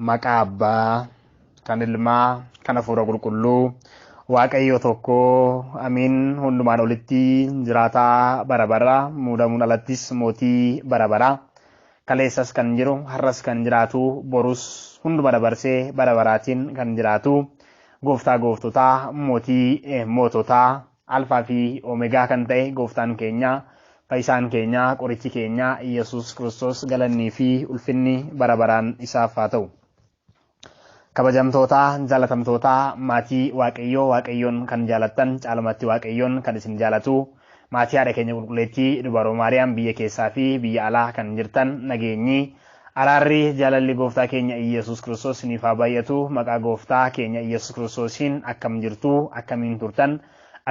Maqaa Abbaa, kan Ilmaa, kan Hafuura Qulqulluu, Waaqayyo tokko, Amiin, hundumaan olitti jiraataa bara bara, muudamuun alattis mootii bara bara. Kaleessas kan jiru, har'as kan jiraatu, borus hunduma dabarsee bara baraatiin kan jiraatu, gooftaa gooftotaa, mootii moototaa, Alfaa fi Omegaa kan ta'e Gooftaan keenya, Fayyisaan keenya, Qorichi keenya Iyyasuus Kiristoos galannii fi ulfinni bara baraan isaaf haa ta'u. Kabajamtootaa, jaalatamtootaa, maatii Waaqayyoo Waaqayyoon kan jaalattan caalumatti Waaqayyoon kan isin jaalatu maatii haadha keenya qulqulleettii dubaroo Maariyaam biyya keessaa fi biyya alaa kan jirtan nageenyi Araarri jaalalli gooftaa keenya Iyyesuus Kiristoos isiniif haa baay'atu maqaa gooftaa keenya Iyyesuus Kiristoosiin akkam jirtu akkamiin turtan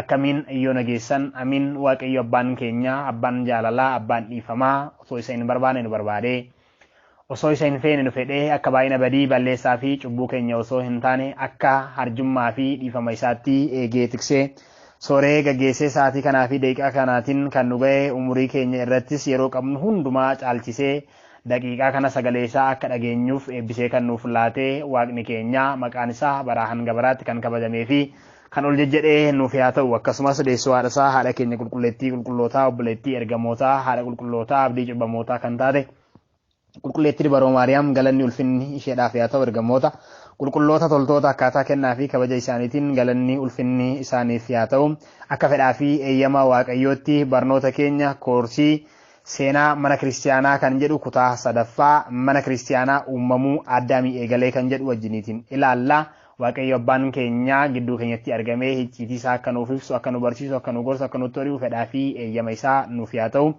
akkamiin yoona geessan amiin waaqayyo abbaan keenya abbaan jaalalaa abbaan dhiifamaa osoo isa hin barbaane nu barbaade osoo isa hin feene nu fedhe akka baay'ina badii balleessaa fi cubbuu keenya osoo hin taane akka harjummaa fi dhiifama isaatti eegee tiksee sooree gaggeessee sa'aatii kanaa fi daqiiqaa kanaatiin kan nu ga'e umurii keenya irrattis yeroo qabnu hundumaa caalchisee Daqiiqaa kana sagalee isaa akka dhageenyuuf eebbisee kan nuuf laate waaqni keenya maqaan isaa baraa hanga baraatti kan kabajamee fi kan ol jejjedhee nuuf yaa ta'u akkasumas deessoo haadha isaa haadha keenya qulqulleettii qulqullootaa obboleettii ergamootaa haadha qulqullootaa abdii cubbamootaa kan taate qulqulleettii dubaroo maariyaam galanni ulfinni isheedhaaf yaa ta'u ergamoota qulqulloota toltoota akkaataa kennaa fi kabaja isaaniitiin galanni ulfinni isaaniif yaa ta'u akka fedhaa fi eeyyama waaqayyootti barnoota keenya koorsii Seenaa mana kiristiyaanaa kan jedhu kutaa sadaffaa mana kiristiyaanaa uumamuu Addaamii eegalee kan jedhu wajjiniitiin ilaalla. Waaqayyo abbaan keenyaa gidduu keenyatti argamee hicciitii isaa akka nuuf ibsu, akka nu barsiisu, akka nu gorsu, akka nutti hori'u fedhaa fi eeyyama isaa nuuf yaa ta'u.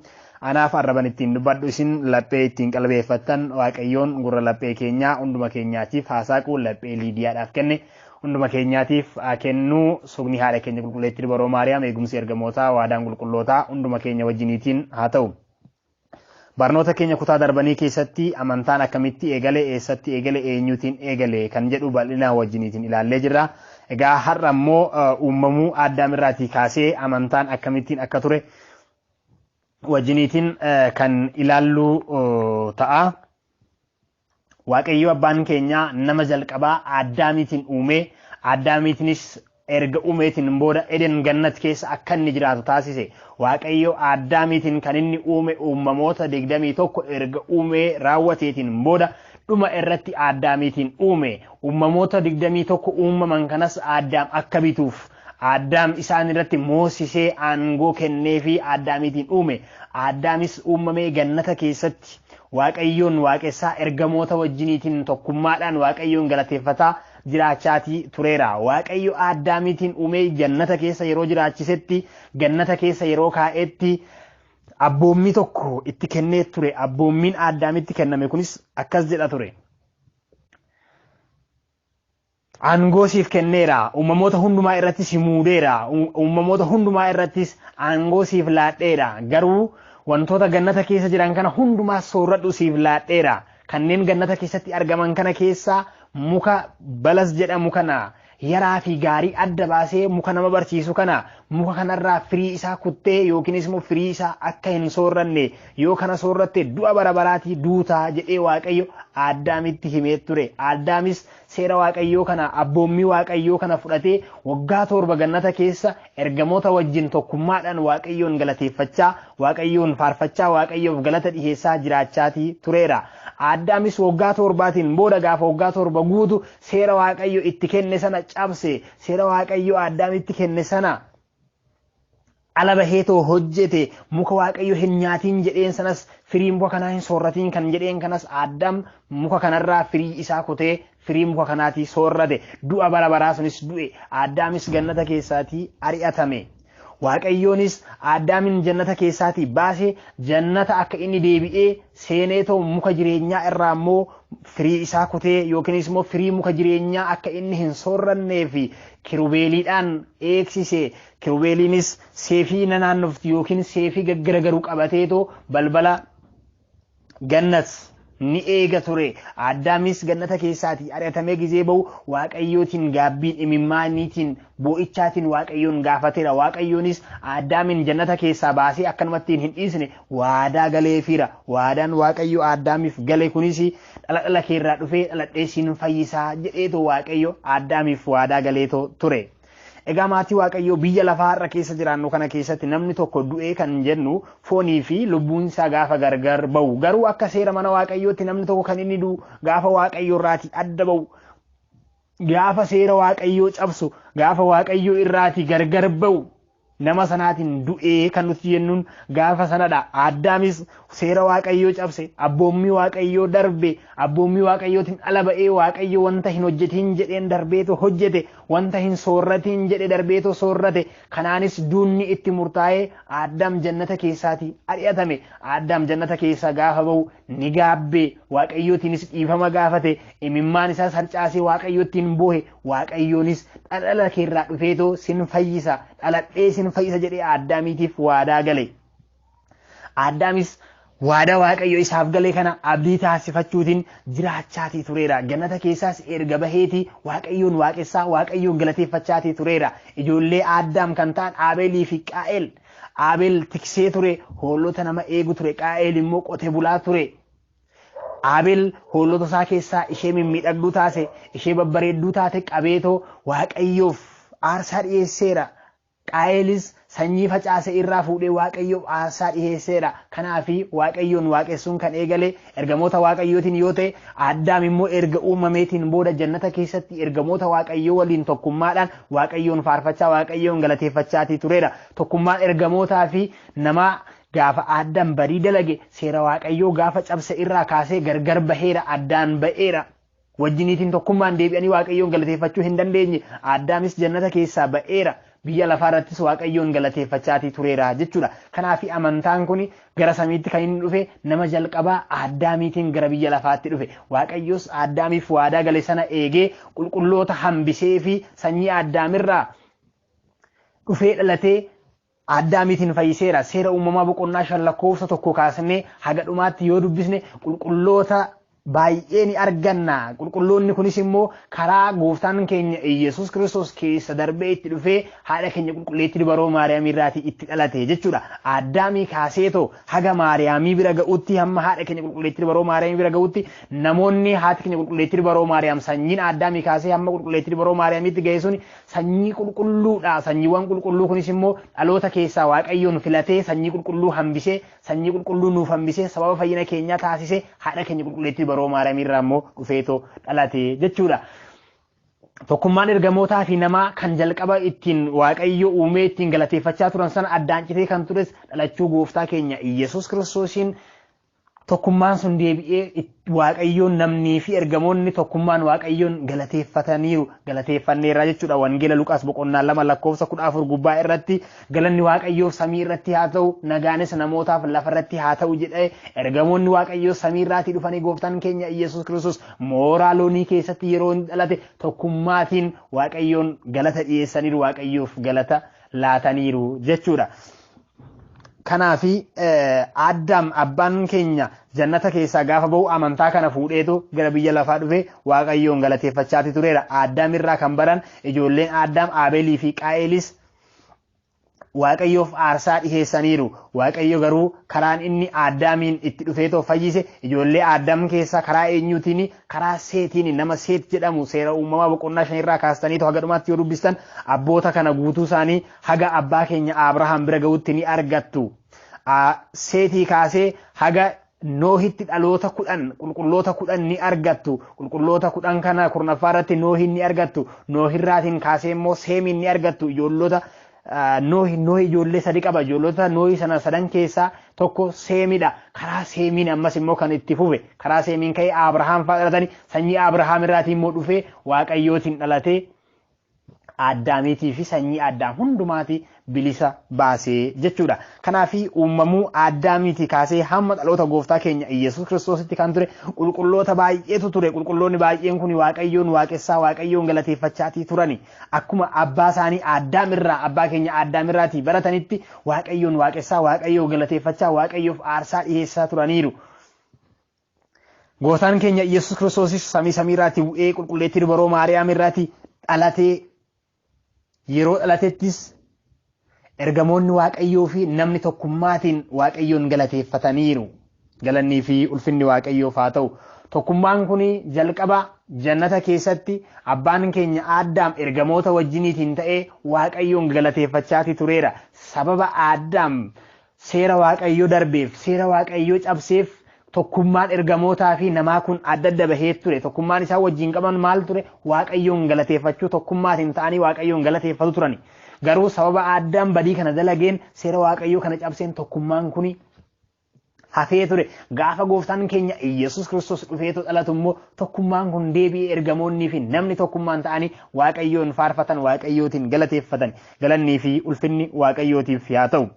Anaaf arraban ittiin dubbadhu isin laphee ittiin qalbeeffattan Waaqayyoon gurra laphee keenyaa hunduma keenyaatiif haa saaqu laphee Liidiyaadhaaf kenne. hunduma keenyaatiif haa kennu sugni haadha keenya qulqulleettii dubaroo maariyaam eegumsi ergamootaa waadaan qulqullootaa hunduma keenya wajjiniitiin haa ta'u. Barnoota keenya kutaa darbanii keessatti amantaan akkamitti eegale eessatti eegale eenyuutiin eegale kan jedhu bal'inaan wajjiniitiin ilaallee jirra. Egaa har'a immoo uumamuu addaam irraatii kaasee amantaan akkamittiin akka ture wajjiniitiin kan ilaalluu ta'a. Waaqayyoo abbaan keenyaa nama jalqabaa Addaamiitiin uumee Addaamiitinis erga uumeetiin booda Eden Gannat keessa akka inni jiraatu taasise. Waaqayyo Addaamiitiin kan inni uume uumamoota 21 erga uumee raawwateetiin booda dhuma irratti Addaamiitiin uume. Uumamoota 21 uumaman kanas Addaam akka bituuf Addaam isaan irratti moosisee aangoo kennee fi Addaamiitiin uume. Addaamis uumamee gannata keessatti Waaqayyoon waaqessaa, ergamoota wajjiniitiin tokkummaadhaan Waaqayyoon galateeffataa jiraachaatii tureera. Waaqayyo Addaamiitiin uumee jannata keessa yeroo jiraachisetti, gannata keessa yeroo kaa'etti abboommii tokko itti kennee ture. Abboommiin Addaamitti kenname kunis akkas jedha ture. Aangoo siif kenneera, uumamoota hundumaa irratti si muudeera, uumamoota hundumaa irrattis aangoo siif laadheera, garuu wantoota gannata keessa jiran kana hundumaa soorradhu siif laadheera, kanneen gannata keessatti argaman kana keessaa muka balas jedhamu kana, yaraa fi gaarii adda baasee muka nama barsiisu kana, muka kanarraa firii isaa kuttee yookiinis immoo firii isaa akka hin soorranne, yoo kana soorratte du'a bara baraatii duuta jedhee Waaqayyo Aaddaamitti himee ture. Aaddaamis Seera Waaqayyoo kana, abboommii Waaqayyoo kana fudhatee waggaa torba gannata keessa ergamoota wajjin tokkummaadhaan Waaqayyoon galateeffachaa, Waaqayyoon faarfachaa, Waaqayyoof galata dhiheessaa jiraachaatii tureera. Aaddaamis waggaa torbaatiin booda gaafa waggaa torba guutu seera Waaqayyo itti kenne sana cabse, seera Waaqayyo Aaddaamitti kenne sana ala bahee too hojjete muka waaqayyo hin nyaatiin jedheen sanas firii muka kanaa hin soorratiin kan jedheen kanas aaddaam muka kanarraa firii isaa kutee firii muka kanaatii soorrate du'a bara baraa sunis du'e aaddaamis gannata keessaatii ari'atame. Waaqayyoonis aaddaamiin jannata keessaatii baase jannata akka inni deebi'ee seenee too muka jireenyaa irraa immoo firii isaa kutee yookiinis immoo firii muka jireenyaa akka inni hin soorrannee fi kirubeeliidhaan eegsise Kirubeeliinis seefii na naannoftu yookiin seefii gaggaragaru qabateetoo balbala gannat ni eega ture. Addaamis gannata keessaatii ari'atamee gizee ba'u Waaqayyootiin gaabbiin imimmaaniitiin boo'ichaatiin Waaqayyoon gaafateera. Waaqayyoonis Addaamin jannata keessaa baasee akkanumattiin hin dhiisne waadaa galeefiira. Waadaan Waaqayyo Addaamiif gale kunis dhala dhala keerraa dhufee dhaladhee siin fayyisaa jedheetoo Waaqayyo Addaamiif waadaa galeetoo ture. Egaa maatii Waaqayyoo biyya lafaa har'a keessa jiraannu kana keessatti namni tokko du'ee kan jennu foonii fi lubbuun isaa gaafa gargar ba'u. Garuu akka seera mana Waaqayyootti namni tokko kan inni du'u gaafa Waaqayyoo irraatii adda ba'u. Gaafa seera Waaqayyoo cabsu, gaafa Waaqayyoo irraatii gargar ba'u. nama sanaatiin du'ee kan nuti jennuun gaafa sanadha. Addaamis seera waaqayyoo cabse, abboommii waaqayyoo darbe, abboommii waaqayyootiin ala ba'ee waaqayyo wanta hin hojjetiin jedheen darbeetu hojjete, wanta hin soorratiin jedhe darbeetu soorrate. Kanaanis duunni itti murtaa'ee Addaam jannata keessaatii ari'atame. Addaam jannata keessaa gaafa ba'u Ni gaabbe, Waaqayyootiinis dhiifama gaafate, imimmaan isaas harcaasee Waaqayyoottiin boohe, Waaqayyoonis dhala kee irraa dhufeetoo sin fayyisa, dhaladhee sin fayyisa jedhee Addaamiitiif waadaa gale. Addaamis waada Waaqayyo isaaf gale kana abdii taasifachuutiin jiraachaatii tureera. Gannata keessaas erga baheeti Waaqayyoon waaqessaa, Waaqayyoon galateeffachaatii tureera. Ijoollee Addaam kan ta'an Aabeelii fi Qaa'el Aabel tiksee ture, hoolota nama eegu ture, Qaa'eel immoo qote bulaa ture. Aabel hoolota isaa keessaa ishee mimmiidhagduu taase, ishee babbareedduu taate qabeetoo Waaqayyoof aarsaa dhiyeesseera. Qaa'eelis sanyii facaase irraa fuudhee Waaqayyoof aarsaa dhiyeesseera. Kanaafi Waaqayyoon waaqessuun kan eegale Ergamoota Waaqayyootiin yoo ta'e, Addaam immoo erga uumameetiin booda jannata keessatti ergamoota Waaqayyoo waliin tokkummaadhaan Waaqayyoon faarfachaa Waaqayyoon galateeffachaatii tureera. Tokkummaan ergamootaa fi namaa gaafa Addaam badii dalage seera Waaqayyoo gaafa cabse irraa kaasee gargar baheera, addaan ba'eera. wajjiniitiin tokkummaan deebi'anii waaqayyoon galateeffachuu hin dandeenye addaamis jannata keessaa ba'eera biyya lafaa irrattis waaqayyoon galateeffachaatii tureera jechuudha kanaaf amantaan kun gara samiitti kan inni dhufe nama jalqabaa addaamiitiin gara biyya lafaatti dhufe waaqayyoos addaamiif waadaa gale sana eegee qulqulloota hambisee fi sanyii addaamirraa dhufee dhalatee Addaamiitiin fayyiseera. Seera uumamaa boqonnaa shan lakkoofsa tokko kaasnee haga dhumaatti yoo dubbisne qulqulloota baay'ee ni arganna. Qulqulloonni kunis immoo karaa gooftaan keenya Iyyasuus Kiristoos keessa darbee itti dhufee haadha keenya qulqulleettii dubaroo Maariyaamii irraatii itti dhalate jechuudha. Addaamii kaaseetoo haga Maariyaamii bira ga'utti hamma haadha keenya qulqulleettii dubaroo Maariyaamii bira ga'utti namoonni haati keenya qulqulleettii dubaroo Maariyaam sanyiin Addaamii kaasee hamma qulqulleettii dubaroo Maariyaamiitti ga'e sun Sanyii qulqulluu dha. Sanyiiwwan qulqulluu kunis immoo dhaloota keessaa Waaqayyoon filatee sanyii qulqulluu hambisee, sanyii qulqulluu nuuf hambisee, sababa fayyina keenyaa taasisee, haadha keenya qulqulleettii baroo Maariyaamii irraa immoo dhufeetoo dhalate jechuu dha. Tokkummaan ergamootaa fi namaa kan jalqaba ittiin Waaqayyo uumee ittiin galateeffachaa turan sana addaan citee kan tures dhalachuu gooftaa keenya Iyyasuus Kiristoosiin Tokkummaan sun deebi'ee it- Waaqayyoon namnii fi ergamoonni tokkummaan Waaqayyoon galateeffataniiru galateeffanneerra jechuudha wangeela Luqaas boqonnaa lama lakkoofsa kudha afur gubbaa irratti galanni Waaqayyoof samii irratti haa ta'u nagaanis namootaaf lafa irratti haa ta'u jedhee ergamoonni Waaqayyoo samii irraatii dhufanii gooftaan keenya Iyyasuus Kiristoos mooraa loonii keessatti yeroo inni dhalate tokkummaatiin Waaqayyoon galata dhiyeessaniiru Waaqayyoof galata laataniiru jechuudha. Kanaafi Addaam abbaan keenya jannata keessaa gaafa ba'u amantaa kana fuudheetu gara biyya lafaa dhufe Waaqayyoon galateeffachaati tureera. Addaam irraa kan baran ijoolleen Addaam Aabeelii fi Qaa'eelis Waaqayyoof aarsaa dhiheessaniiru. Waaqayyo garuu karaan inni Addaamiin itti dhufeetoo fayyise ijoollee Addaam keessaa karaa eenyuutiin karaa seetiin nama seet jedhamu seera uumamaa boqonnaa shan irraa kaastaniitu haga dhumaatti yoo dubbistan abboota kana guutuu isaanii haga abbaa keenya Abrahaam bira ga'utti ni argattu. Seetii kaasee haga Noohitti dhaloota kudhan qulqulloota kudhan ni argattu. Qulqulloota kudhan kana kurnaffaa irratti Noohin ni argattu. Noohirraatiin kaasee immoo Seemiin ni argattu. Ijoollota Noohi Noohi ijoollee sadi qaba. Ijoollota Noohi sana sadan keessaa tokko Seemidha. Karaa Seemiin ammas immoo kan itti fufe. Karaa Seemiin ka'ee Abrahaam fa'aa dhalatanii sanyii Abrahaam irraatii immoo dhufee Waaqayyootiin dhalatee Aaddaamiitii fi sanyii Aaddaam hundumaati bilisa baasee jechuudha. Kanaaf uumamuu Aaddaamiitii kaasee hamma dhaloota gooftaa keenya Iyyasuus Kiristoositti kan ture qulqulloota baay'eetu ture. Qulqulloonni baay'een kun Waaqayyoon waaqessaa Waaqayyoon galateeffachaatii turani. Akkuma abbaa isaanii Aaddaam irraa abbaa keenya Aaddaam irraatii baratanitti Waaqayyoon waaqessaa Waaqayyoo galateeffachaa Waaqayyoof aarsaa dhiheessaa turaniiru. Gootaan keenya Iyyasuus Kiristoosis samii samii irraati bu'ee qulqulleettii dubaroo Maariyaam irraati dhalatee yeroo dhalatettis ergamoonni Waaqayyoo fi namni tokkummaatiin Waaqayyoon galateeffataniiru. Galannii fi ulfinni Waaqayyoof haa ta'u. Tokkummaan kun jalqaba jannata keessatti abbaan keenya Aaddaam ergamoota wajjiniitiin ta'ee Waaqayyoon galateeffachaatii tureera. Sababa Aaddaam Seera Waaqayyoo darbeef, seera Waaqayyoo cabseef tokkummaan ergamootaa fi namaa kun adda adda bahee ture. Tokkummaan isaan wajjin qaban maal ture? Waaqayyoon galateeffachuu tokkummaatiin ta'anii Waaqayyoon galateeffatu turani. Garuu sababa addaan badii kana dalageen seera Waaqayyoo kana cabseen tokkummaan kuni hafee ture. Gaafa gooftaan keenya Iyyasuus Kiristoos dhufeetu dhalatu immoo tokkummaan kun deebi'ee ergamoonnii fi namni tokkummaan ta'anii Waaqayyoon faarfatan Waaqayyootiin galateeffatan. Galannii fi ulfinni Waaqayyootiif yaa ta'u.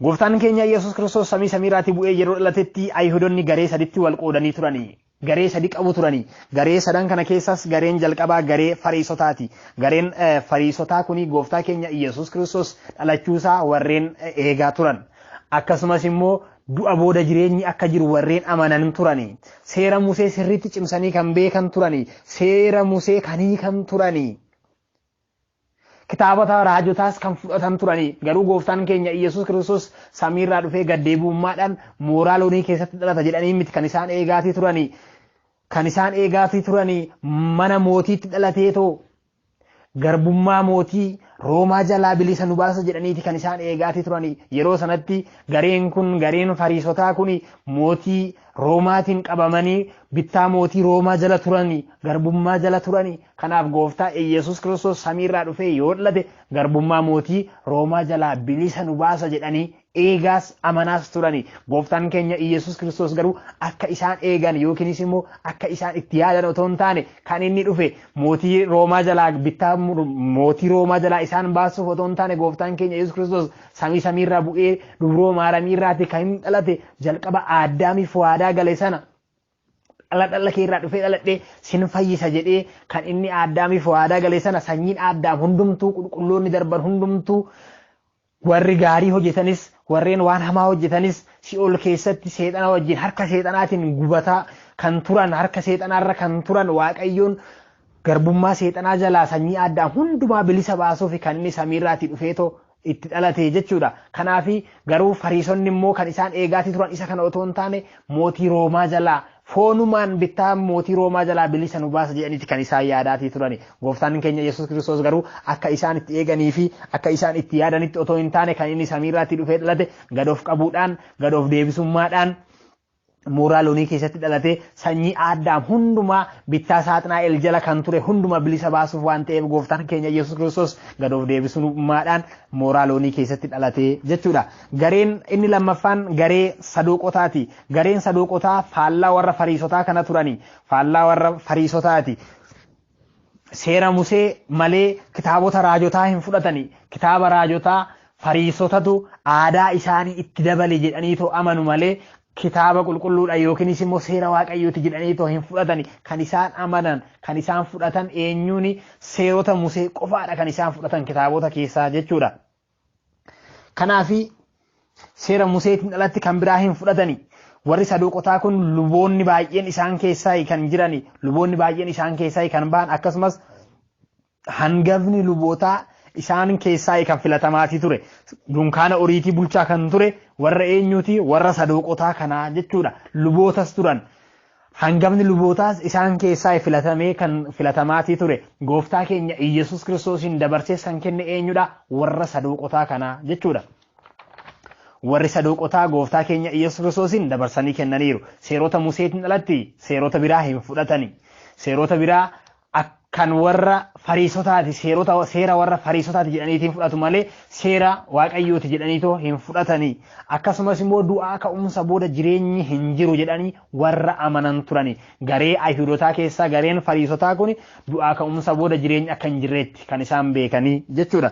Gooftaan keenya Yesuus Kiristoos samii samiirraatii bu'ee yeroo dhalatetti Ayihudonni garee saditti wal qoodanii turani. Garee sadi qabu turani. Garee sadan kana keessaas gareen jalqabaa garee fariisotaati. Gareen fariisotaa kuni gooftaa keenya Yesuus Kiristoos dhalachuusaa warreen eegaa turan. Akkasumas immoo du'a booda jireenyi akka jiru warreen amanan turani. Seera Musee sirriitti cimsanii kan beekan turani. Seera Musee kan hiikan turani. Kitaabota raajotaas kan fudhatan turanii garuu gooftaan keenya Iyyasuus Kiristoos samiirraa dhufee gaddeebi'ummaadhaan mooraa loonii keessatti dhalata jedhanii miti kan isaan eegaatii turanii kan isaan eegaatii turanii mana mootiitti dhalateetoo garbummaa mootii Roomaa jalaa bilisa nu baasa jedhaniiti kan isaan eegaatii turanii yeroo sanatti gareen kun gareen fariisotaa kun mootii Roomaatiin qabamanii bittaa mootii Roomaa jala turanii garbummaa jala turanii kanaaf gooftaa Iyyasuus Kiristoos samiirraa dhufee yoo dhalate garbummaa mootii Roomaa jalaa bilisa nu baasa jedhanii eegaas amanaas turanii gooftaan keenya Iyyasuus Kiristoos garuu akka isaan eegan yookiinis immoo akka isaan itti yaadan otoo hin taane kan inni dhufe mootii Roomaa jalaa bittaa mootii Roomaa jalaa isaan baasuuf otoo hin taane gooftaan keenya Iyyasuus Kiristoos Samii samiirraa bu'ee dubroo maaramiirraati kan inni dhalate jalqaba aaddaamiif waadaa gale sana dhala dhala keerraa dhufee dhaladhee sin fayyisa jedhee kan inni aaddaamiif waadaa gale sana sanyiin aaddaam hundumtuu qulqulloonni darban hundumtuu warri gaarii hojjetanis warreen waan hamaa hojjetanis si'ool keessatti seexana wajjin harka seexanaatiin gubataa kan turan harka seexanaarra kan turan waaqayyoon garbummaa seexanaa jalaa sanyii aaddaam hundumaa bilisa baasuuf kan inni samiirraatii dhufeetoo itti dhalate jechuudha. Kanaaf garuu fariisonni immoo kan isaan eegaatii turan isa kana otoo hin taane mootii Roomaa jalaa foonumaan bittaa mootii Roomaa jalaa bilisa nu baasa jedhaniiti kan isaan yaadaatii turani. Gooftaan keenya Yesuus Kiristoos garuu akka isaan itti eeganii fi akka isaan itti yaadanitti otoo hin taane kan inni samiirraatti dhufee dhalate gad of qabuudhaan gad of deebisummaadhaan mooraa loonii keessatti dhalate sanyii Addaam hundumaa bittaa saaxinaa el jala kan ture hundumaa bilisa baasuuf waan ta'eef gooftaan keenya Yesuus Kiristoos gad of deebisummaadhaan mooraa loonii keessatti dhalate jechuudha. Gareen inni lammaffaan garee sadooqotaati. Gareen sadooqotaa faallaa warra fariisotaa kana turani. Faallaa warra fariisotaati. Seera Musee malee kitaabota raajotaa hin fudhatani. Kitaaba raajotaa Fariisotatu aadaa isaanii itti dabale jedhaniitoo amanu malee kitaaba qulqulluudha yookiinis immoo seera waaqayyooti jedhaniitoo hin fudhatani. Kan isaan amanan, kan isaan fudhatan eenyuuni seerota Musee qofaadha kan isaan fudhatan kitaabota keessaa jechuudha. Kanaafi seera Museetiin alatti kan biraa hin fudhatani. Warri saduuqotaa kun luboonni baay'een isaan keessaa kan jirani, luboonni baay'een isaan keessaa kan ba'an akkasumas hangafni lubootaa isaan keessaa kan filatamaatii ture. Dunkaana oriitii bulchaa kan ture warra eenyuuti warra saduuqotaa kanaa jechuudha. Lubootas turan. Hangafni lubootaas isaan keessaa filatamee kan filatamaatii ture gooftaa keenya Iyyasuus Kiristoosiin dabarsees kan kenne eenyudha? Warra saduuqotaa kanaa jechuudha. Warri saduuqotaa gooftaa keenya Iyyasuus Kiristoosiin dabarsanii kennaniiru. Seerota Museetiin alatti seerota biraa hin fudhatani. Seerota biraa akkan warra fariisotaati seerota seera warra fariisotaati jedhaniitiin fudhatu malee seera waaqayyooti jedhaniitoo hin fudhatanii akkasumas immoo du'aa ka'umsa booda jireenyi hin jiru jedhanii warra amanan turani garee ayhudotaa keessaa gareen fariisotaa kun du'aa ka'umsa booda jireenyi akka hin jirreetti kan isaan beekanii jechuudha.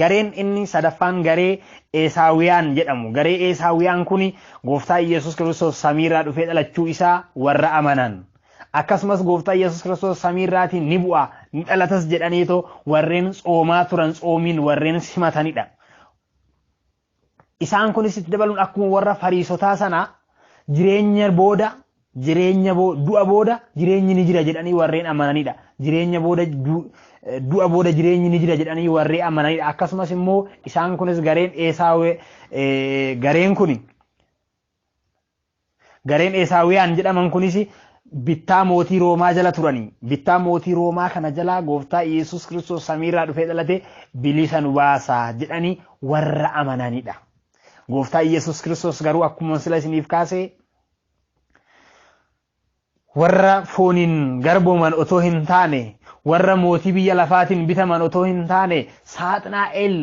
Gareen inni sadaffaan garee Eesaawiyaan jedhamu. Garee Eesaawiyaan kun gooftaa Iyyasuus Kiristoos samiirraa dhufee dhalachuu isaa warra amanan. Akkasumas gooftaa Iyyasuus Kiristoos samiirraatiin ni bu'a, ni dhalatas jedhaniitoo warreen tsoomaa turan tsoomiin warreen simatanidha. Isaan kunis itti dabaluun akkuma warra fariisotaa sanaa jireenya booda jireenya du'a booda jireenyi ni jira jedhanii warreen amananidha. Jireenya booda du'a booda jireenyi ni jira jedhanii warree amananidha. Akkasumas immoo isaan kunis gareen eesaawee gareen kun Gareen Eesaawiyaan jedhaman kunis bittaa mootii Roomaa jala turanii bittaa mootii Roomaa kana jalaa gooftaa Iyyasuus Kiristoos samiirraa dhufee dhalate bilisa nu baasa jedhanii warra amananidha. Gooftaa Iyyasuus Kiristoos garuu akkuma sila isiniif kaase warra fooniin garbooman otoo hin taane warra mootii biyya lafaatiin bitaman otoo hin taane saaxinaa'el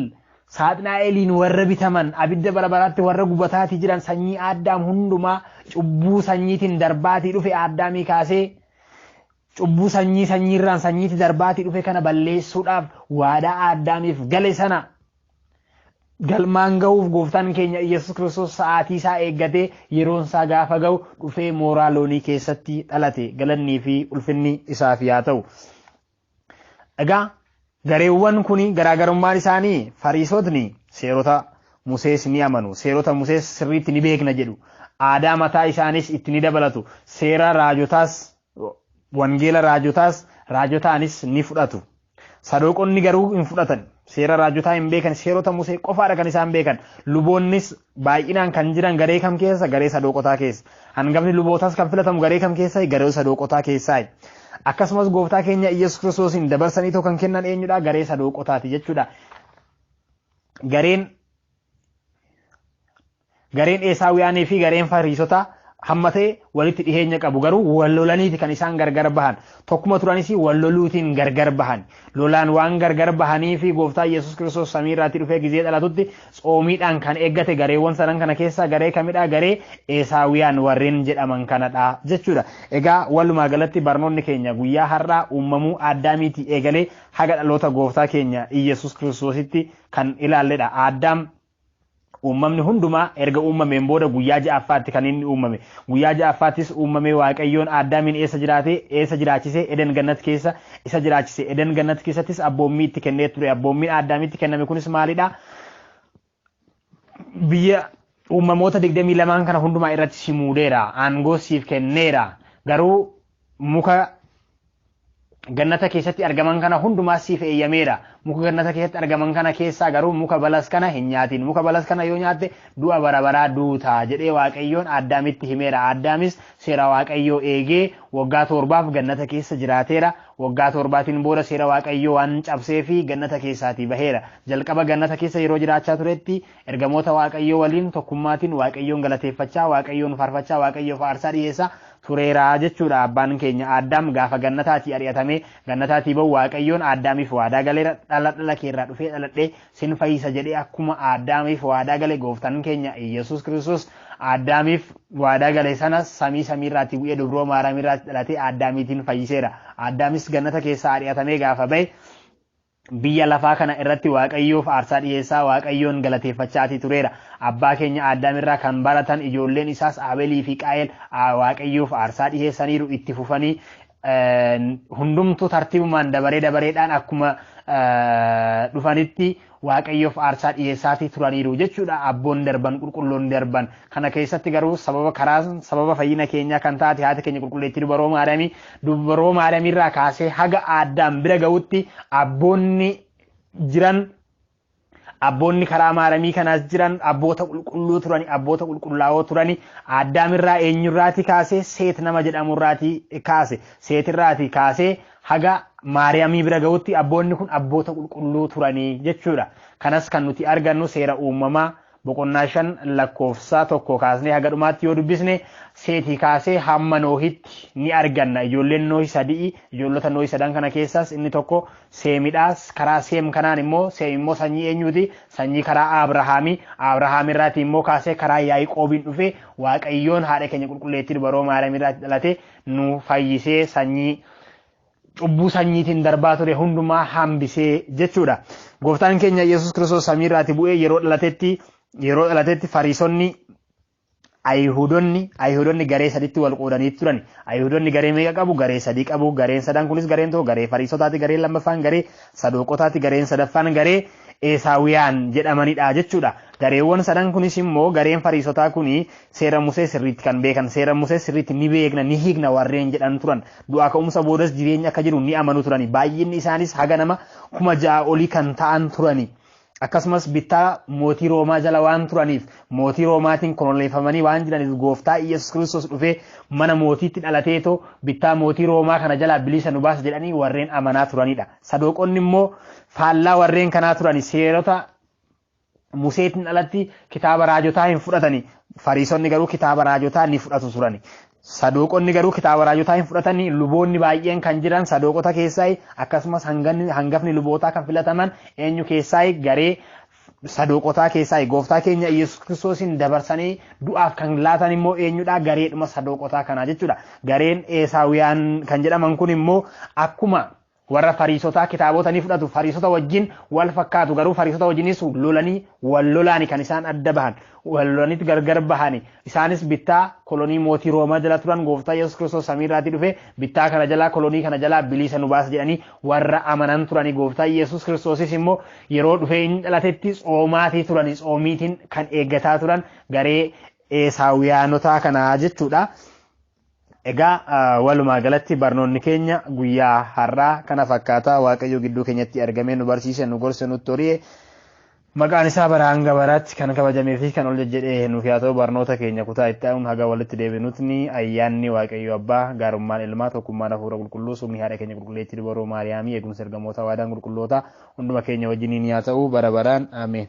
saaxinaa'eliin warra bitaman abidda bara baraatti warra gubataatii jiran sanyii aaddaam hundumaa cubbuu sanyiitiin darbaatii dhufe aaddaamii kaasee cubbuu sanyii sanyiirraan sanyiitti darbaatii dhufe kana balleessuudhaaf waadaa aaddaamiif gale sana Galmaan gahuuf gooftaan keenya Iyyasuus Kiristoos sa'aatii isaa eeggatee yeroon isaa gaafa gahu dhufee mooraa loonii keessatti dhalate galannii fi ulfinni isaaf yaa ta'u. Egaa gareewwan kun garaagarummaan isaanii fariisotni seerota Musees ni amanu. Seerota Musees sirriitti ni beekna jedhu. Aadaa mataa isaanis itti ni dabalatu. Seera raajotaas Wangeela raajotaas raajotaanis ni fudhatu. Sadooqonni garuu hin fudhatan. Seera raajotaa hin beekan. Seerota Musee qofaadha kan isaan beekan. Luboonnis baay'inaan kan jiran garee kam keessa? Garee sadooqotaa keessa. Hangafni lubootaas kan filatamu garee kam keessa? Garee sadooqotaa keessaa. Akkasumas gooftaa keenya Iyyasuus Kiristoosiin dabarsanii too kan kennan eenyudha? Garee sadooqotaati jechuudha. Gareen Gareen Eesaawiyaanii fi gareen Fariisotaa hammatee walitti dhiheenya qabu garuu wal lolaniiti kan isaan gargar bahan tokkuma turanis wal loluutiin gargar bahan lolaan waan gargar bahanii fi gooftaa yesus kiristoos samii irraatti dhufee gizee dhalatutti tsoomiidhaan kan eeggate gareewwan sadan kana keessaa garee kamidhaa garee eesaawiyaan warreen jedhaman kanadha jechuudha egaa walumaa galatti barnoonni keenya guyyaa har'aa uumamuu addaamiitii eegalee haga dhaloota gooftaa keenya yesus kiristoositti kan ilaalledha addaam Uummamni hundumaa erga uummameen booda guyyaa ja'affaatti kan inni uummame. Guyyaa ja'affaattis uummamee Waaqayyoon Aaddaamiin eessa jiraate, eessa jiraachise, Eden Gannat keessa isa jiraachise. Eden Gannat keessattis abboommii itti kennee ture. Abboommiin Aaddaamitti kenname kunis maalidha? Biyya uummamoota 22 kana hundumaa irratti si muudeera. Aangoo siif kenneera. Garuu muka gannata keessatti argaman kana hundumaa siif eeyyameera. Muka gannata keessatti argaman kana keessaa garuu muka balas kana hin nyaatin. Muka balas kana yoo nyaatte du'a bara baraa duuta jedhee Waaqayyoon Addaamitti himeera. Addaamis seera Waaqayyoo eegee waggaa torbaaf gannata keessa jiraateera. Waggaa torbaatiin booda seera Waaqayyoo waan cabsee fi gannata keessaatii baheera. Jalqaba gannata keessa yeroo jiraachaa turetti Ergamoota Waaqayyoo waliin tokkummaatiin Waaqayyoon galateeffachaa, Waaqayyoon faarfachaa, Waaqayyoof aarsaa dhiyeessaa tureera jechuudha. Abbaan keenya Aaddaam gaafa gannataatii ari'atamee gannataatii ba'u Waaqayyoon Aaddaamiif waadaa galeera. Dhala dhala keerraa dhufee dhaladhee sin fayyisa jedhee akkuma Aaddaamiif waadaa gale gooftaan keenya Iyyasuus Kiristoos Aaddaamiif waadaa gale sana samii samiirraatii bu'ee dubroo Maaraamiirraatti dhalatee Aaddaamiitiin fayyiseera. Aaddaamis gannata keessaa ari'atamee gaafa ba'e Biyya lafaa kana irratti Waaqayyoof aarsaa dhiheessaa Waaqayyoon galateeffachaatii tureera. Abbaa keenya Aaddaam irraa kan baratan ijoolleen isaas Aabelii fi Qaayel Waaqayyoof aarsaa dhiheessaniiru itti fufanii hundumtuu tartiibumaan dabaree dabareedhaan akkuma dhufanitti waaqayyoof aarsaa dhiyeessaatii turaniiru jechuudha abboon darban qulqulloon darban kana keessatti garuu sababa karaa sababa fayyina keenyaa kan taate haati keenya qulqulleettii dubaroo maariyaamii Dubroo Maariyamiirraa kaasee haga Aaddaam bira ga'utti abboonni jiran abboonni karaa maaramii kanaas jiran abboota qulqulluu turani abboota qulqullaa'oo turani Addaamirraa eenyurraati kaasee seet nama jedhamurraati kaase seetirraati kaasee haga maariyaamii bira ga'utti abboonni kun abboota qulqulluu turanii jechuudha kanas kan nuti argannu seera uumamaa boqonnaa 5 lakkoofsa 1 kaasnee haga dhumaatti yoo dubbisne seetii kaasee hamma noohitti ni arganna ijoolleen noohi sadii ijoollota noohi sadan kana keessaas inni tokko seemidhaas karaa seem kanaan immoo seem immoo sanyii eenyuuti sanyii karaa abrahaamii abrahaam irraatii immoo kaasee karaa yaa'iqoobiin dhufee waaqayyoon haadha keenya qulqulleettii dubaroo maariyaam irraatti dhalate nu fayyisee sanyii cubbuu sanyiitiin darbaa ture hundumaa hambisee jechuudha. Gooftaan keenya Yesuus Kiristoos samiirraati bu'ee yeroo dhalatetti yeroo dhalatetti fariisonni Ayihudonni Ayihudonni garee sadiitti wal qoodanii turan. Ayihudonni garee meeqa qabu? Garee sadii qabu. Gareen sadan kunis gareen tokko garee fariisotaati, gareen lammaffaan garee sadooqotaati, gareen sadaffaan garee eesaawiyaan jedhamanidha jechuudha. Gareewwan sadan kunis immoo gareen fariisotaa kuni Seera Musee sirriitti kan beekan, seera Musee sirriitti ni beekna, ni hiikna warreen jedhan turan. Du'aa ka'umsa boodas jireenyi akka jiru ni amanu turani. Baay'inni isaanis haga nama kuma ja'a olii kan ta'an turani. Akkasumas bittaa mootii Roomaa jala waan turaniif mootii Roomaatiin koloneeffamanii waan jiraniif gooftaa Iyyasuus Kiristoos dhufee mana mootiitti dhalateetoo bittaa mootii Roomaa kana jalaa bilisa nu baasa jedhanii warreen amanaa turanidha. Sadooqonni immoo faallaa warreen kanaa turani seerota Museetiin alatti kitaaba raajotaa hin fudhatani. Fariisonni garuu kitaaba raajotaa ni fudhatu turani. Sadooqonni garuu kitaaba raajotaa hin fudhatani. Luboonni baay'een kan jiran sadooqota keessaa akkasumas hanganni- hangafni lubootaa kan filataman eenyu keessaa garee sadooqotaa keessaa gooftaa keenya Yesuus Kiristoosiin dabarsanii du'aaf kan laatan immoo eenyudha gareedhuma sadooqotaa kanaa jechuudha. Gareen Eesaawiyaan kan jedhaman kun immoo akkuma Warra Fariisotaa kitaabota ni fudhatu, Fariisota wajjin wal fakkaatu, garuu Fariisota wajjinis lolanii wal lolaani kan isaan adda bahan, wal lolaniit gargar bahani. Isaanis bittaa kolonii mootii Roomaa jala turan, gooftaa Yesuus Kiristoos samii irraatii dhufe, bittaa kana jalaa, kolonii kana jalaa biliisa nu baasa jedhanii warra amanan turani. Gooftaan Yesuus Kiristoosis immoo yeroo dhufee inni dhalatetti tsoomaatii turani, tsoomiitiin kan eeggataa turan garee Eesaawiyaanotaa kanaa jechuudha. Egaa walumaa galatti barnoonni keenya guyyaa har'aa kana fakkaataa waaqayyo gidduu keenyatti argamee nu barsiise nu gorse nutti hori'e maqaan isaa bara hanga baraatti kan kabajamee fi kan ol jajjedhee nuuf yaa ta'u barnoota keenya kutaa itti aanuun haga walitti deebinutni ayyaanni waaqayyo abbaa gaarummaan ilmaa tokkummaan hafuura qulqulluu sumni haadha keenya qulqulleetti dubaroo maariyaamii eegumsa ergamoota waadaan qulqulloota hunduma keenya wajjiniin yaa ta'u bara baraan ameen.